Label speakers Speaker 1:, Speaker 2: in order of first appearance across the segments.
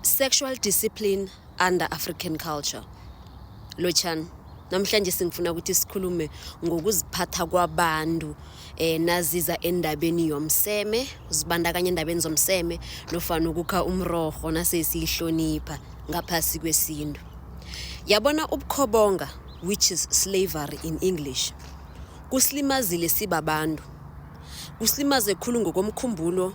Speaker 1: Sexual discipline under African culture. Lotshani, namhlanje singifuna ukuthi sikhulume ngokuziphatha kwabantu eh naziza endabeni yomseme, uzibandakanya endabeni zomseme nofana ukukha umrorho nasesiyihlonipha ngaphasi kwesintu. Yabona ubukhobonga which is slavery in English. Kusilimazile sibabantu. Kusilimaze khulu ngokomkhumbulo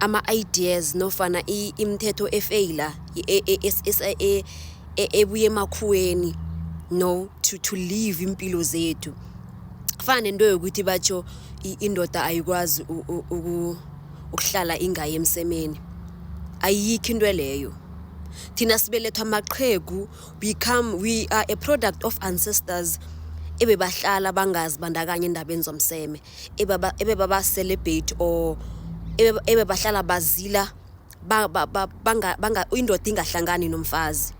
Speaker 1: ama-ideas nofana imithetho efeyila ebuye emakhuweni no to, to live impilo zethu kufana nento yokuthi batsho indoda ayikwazi ukuhlala ingayi emsemeni ayikho into leyo thina sibelethwa amaqhegu become we are a product of ancestors ebebahlala bangazi bandakanye endabeni zomseme ebe baba celebrate or ebe bahlala bazila indoda ingahlangani nomfazi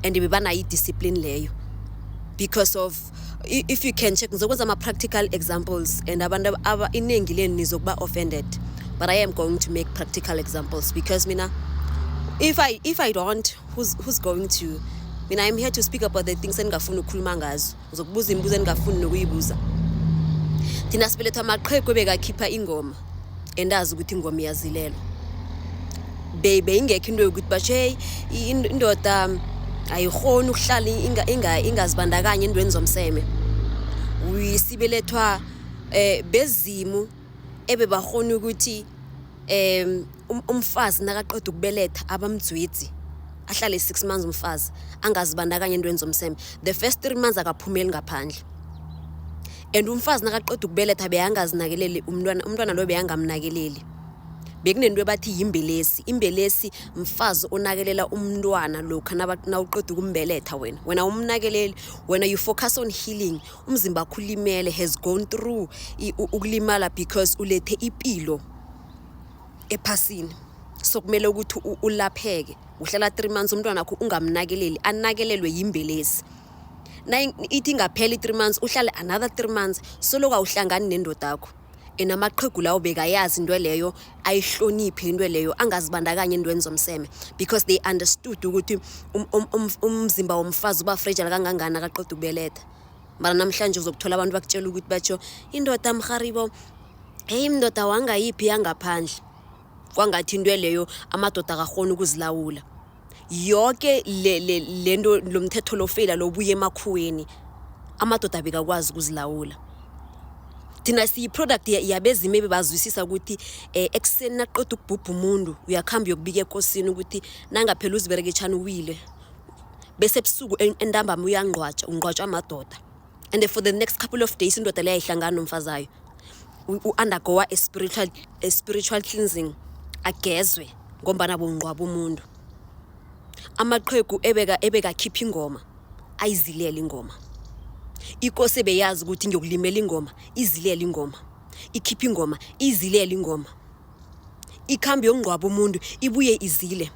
Speaker 1: and bebanayo idiscipline leyo because of if you can check ngizokwenza ama-practical examples and abantu iningi lenu nizokuba offended but i am going to make practical examples because mina if i, if I don't who's, who's going to mina i'm here to speak about the things endingafuni ukukhuluma ngazo uzokubuza imibuzo eningafuni nokuyibuza thina sibelethwa amaqhegu ebekakhipha ingoma endazi ukuthi ingoma iyazilelwa beyingekho into yokuthi basho heyi indoda ayirhoni ukuhlala ingazibandakanye endweni zomseme sibelethwa um bezimu ebebakghona ukuthi umfazi nakaqeda ukubeletha abamdzwidzi ahlale six months umfazi angazibandakanya entweni zomseme the first three months akaphumeli ngaphandle and umfazi nakaqeda ukubeletha beyangazinakeleli umntwana umntwana loyo beyangamnakeleli bekunento ebathi yimbelesi imbelesi mfazi onakelela umntwana lokha nawuqeda ukumbeletha wena wena umnakeleli wena you focus on healing umzimba wakho ulimele has gone through ukulimala because ulethe ipilo ephasini so kumele ukuthi ulapheke uhlala three months umntwana wakho ungamnakeleli anakelelwe yimbelezi ithi ingaphela i-three months uhlale another three months soloku awuhlangani nendoda yakho ena amaqhegu lawo bekayazi into leyo ayihloniphi into leyo angazibandakanye entweni zomseme because they understood ukuthi um, um, um, umzimba womfazi uba frejala kangangani akaqeda ukubeletha mara namhlanje uzokuthola abantu bakutshela ukuthi batsho indoda mharibo heyi mndoda wangayiphi yangaphandle kwangathi into leyo amadoda akakhona ukuzilawula yoke le, le, le nto lo mthetho lofeyila lobuya emakhuweni amadoda bekakwazi ukuzilawula thina siyi-product yabezimu ebebazwisisa ukuthi um ekuseni naqeda ukubhubha umuntu uyakuhambi uyokubika ekosini ukuthi nangaphela uzibereketshani uwile bese ebusuku entambama uyangqwatshwa ungqwatshwa amadoda and for the next couple of days indoda leyo ayihlangani nomfazi ayo u-undergoa a spiritual, a spiritual cleansing agezwe ngombana bungqwaba umuntu amaqhegu ebeka ebekakhipha ingoma ayizilele ingoma ikosi beyazi ukuthi ngiyokulimela ingoma izilele ingoma ikhipha ingoma izilele ingoma ikhambi yokungqwaba umuntu ibuye izile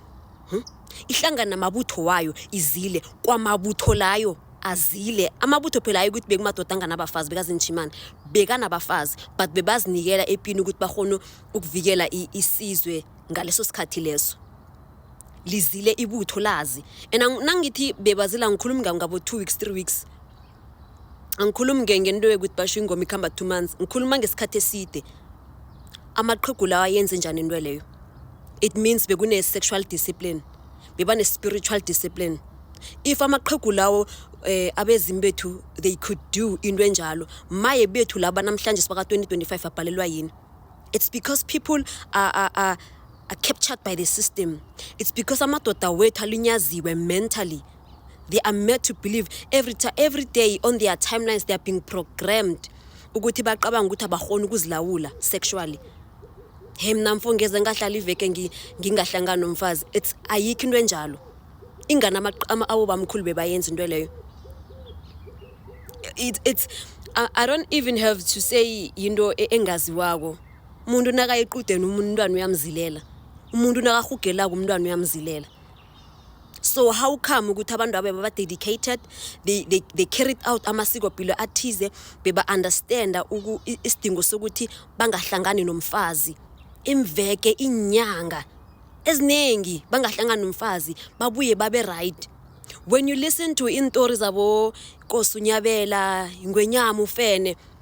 Speaker 1: Hm? Ihlangana namabutho wayo izile kwamabutho layo azile amabutho phela ayi ukuthi bekumadoda anganabafazi bekazinjimana bekanabafazi but bebazinikela epini ukuthi bakhona ukuvikela isizwe ngaleso sikhathi leso lizile ibutho lazi and nangithi bebazila ngikhulumi ngabo-two weeks three weeks angikhulumi ngento yokuthi basho ingoma ikhamba two months ngikhuluma ngesikhathi eside amaqhegu lawa yenze njani into leyo it means bekune-sexual discipline bebane-spiritual discipline if amaqhegu lawo eh abezimu bethu they could do into enjalo maye bethu laba namhlanje sibaka 2025 abhalelwa yini it's because people are, are, are, are captured by the system it's because amadoda wethu alinyaziwe mentally they are made to believe every, every day on their timelines they are being programmed ukuthi bacabanga ukuthi abakhona ukuzilawula sexually he mna mfo ngeze ngahlala iveke ngingahlangani nomfazi it's ayikho into enjalo ingani abo bamkhulu bebayenza into leyo it, it's I, i don't even have to say yinto e, engaziwako umuntu nakayiqudeni umntwana uyamzilela umuntu nakahugelako umntwana uyamzilela so how come ukuthi abantu abo baba-dedicated they, they, they carried out amasikopilo athize beba-understanda isidingo sokuthi bangahlangani nomfazi imveke inyanga eziningi bangahlangani nomfazi babuye babe right when you listen to iintori zabo kosi unyabela ingwenyama ufene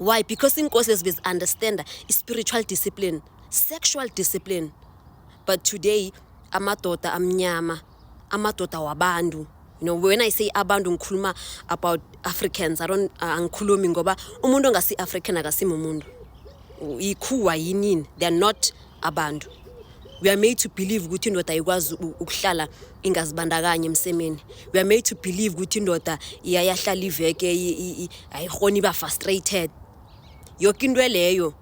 Speaker 1: why because iinkosi lezi bezi-understanda i-spiritual discipline sexual discipline but today amadoda amnyama amadoda wabantu you know when i say abantu ngikhuluma about africans i don't uh, angikhulumi ngoba umuntu ongasi-african akasimumuntu ikhuwa yinini they're not abantu we are made to believe ukuthi indoda ikwazi ukuhlala ingazibandakanye emsemeni we are made to believe ukuthi indoda iyayahlala iveke ayihoni iba frustrated yoke into leyo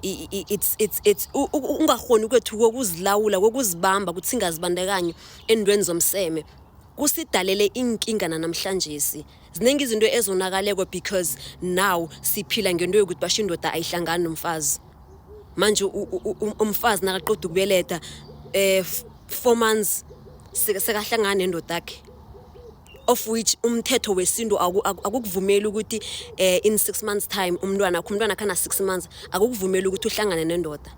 Speaker 1: it's it's it's ungahoni kwethu kokuzilawula kokuzibamba ukuthi singazibandakanye endweni zomseme kusidalele iinkinga nanamhlanjesi ziningi izinto ezonakaleko because now siphila ngento yokuthi basho indoda ayihlangani nomfazi manje umfazi nakaqoda ukubeleta um four months sekahlangana nendoda yakhe of which umthetho wesintu akukuvumeli ukuthi um in six months time umntwana akho umntwana khana six months akukuvumeli ukuthi uhlangane nendoda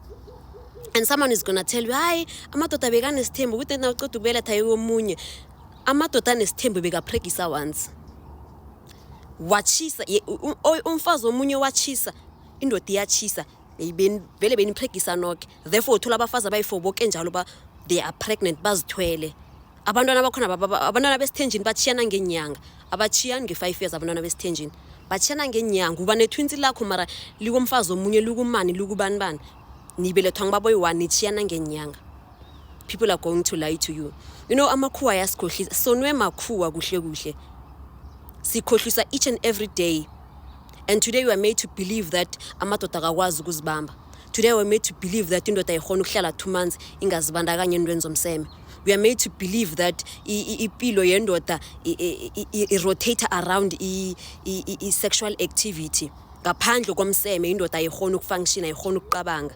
Speaker 1: and someone is gonna tell you hayi amadoda bekanesithembu ukuthi na uceda ukubeletha yomunye amadoda anesithembu bekapregisa once watshisa umfazi omunye watshisa indoda iyatshisa vele benipregisa noke therefore uthola abafazi abayi-four boke njalo ba they are pregnant bazithwele abantwana bakhona abantwana besithenjini batshiyana ngenyanga abatshiyani nge-five years abantwana besithenjini batshiyana ngenyanga uba nethwinsi lakho mara likomfazi omunye likumani likubanibani nibelethwa ngibaboyi-one nitshiyana ngenyanga people are going to lie to you you know amakhuwa ayasikhohlisa sonwe makhuwa kuhle kuhle sikhohlisa each and every day and today we are made to believe that amadoda akakwazi ukuzibamba today we are made to believe that indoda ikhona ukuhlala two months ingazibandakanye entweni zomseme we are made to believe that ipilo yendoda irotate around i-sexual activity ngaphandle komseme indoda ayikhona ukufunctiona ayikhona ukuqabanga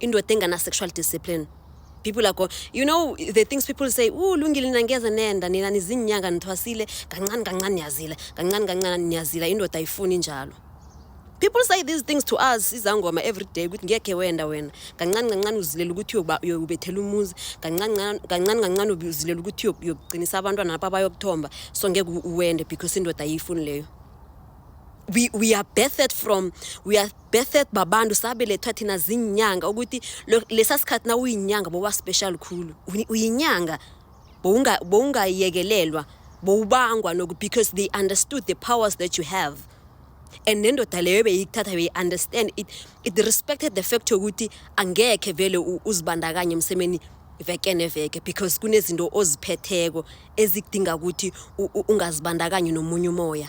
Speaker 1: indoda engana-sexual discipline people are go you know the things people say u lungile nina ngeze nenda nina nizinyanga nithwasile kancane kancane niyazila kancane kancane niyazila indoda ayifuni njalo people say these things to us izangoma every day ukuthi ngekhe wenda wena kancane kancane uzilela ukuthi uyobethela umuzi kancane kancane uzilela ukuthi uyokuqinisa abantwana lapho abayokuthomba so ngeke uwende because indoda ayiyifuni leyo we, we are birthed from we are birthed babantu sabelethwa thina ziinyanga ukuthi lesa sikhathi na uyinyanga boba special khulu uyinyanga bowungayekelelwa bowubangwa noku because they understood the powers that you have and nendoda leyo beyikuthatha beyi-understand it, it respected the fact yokuthi angekhe vele uzibandakanye emsemeni veke neveke because kunezinto oziphetheko ezikudinga ukuthi ungazibandakanyi nomunye umoya